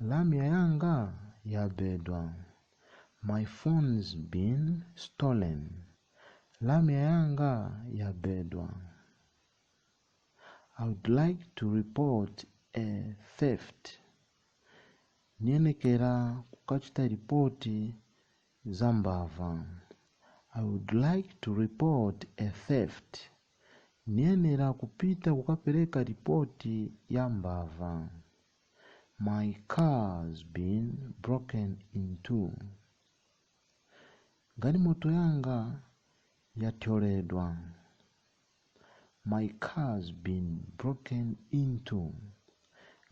Lamya yanga yabedwa. My phone's been stolen. Lamya yanga yabedwa. I would like to report a theft. Ndiyenekera kukachita ripoti Za mbava. I would like to report a theft. Ndiyenera kupita kukapereka ripoti ya mbava. My car's been broken into. Galimoto yanga yathyoledwa. My car's been broken into.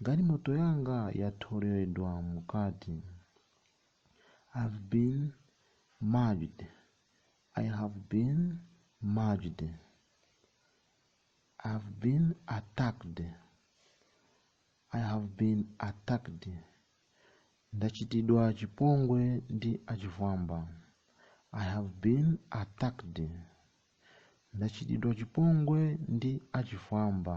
Galimoto yanga yathyoledwa mkati. I've been mugged. I have been mugged. I've been attacked. I have been attacked. Ndachitidwa chipongwe ndi achifwamba. I have been attacked. Ndachitidwa chipongwe ndi achifwamba.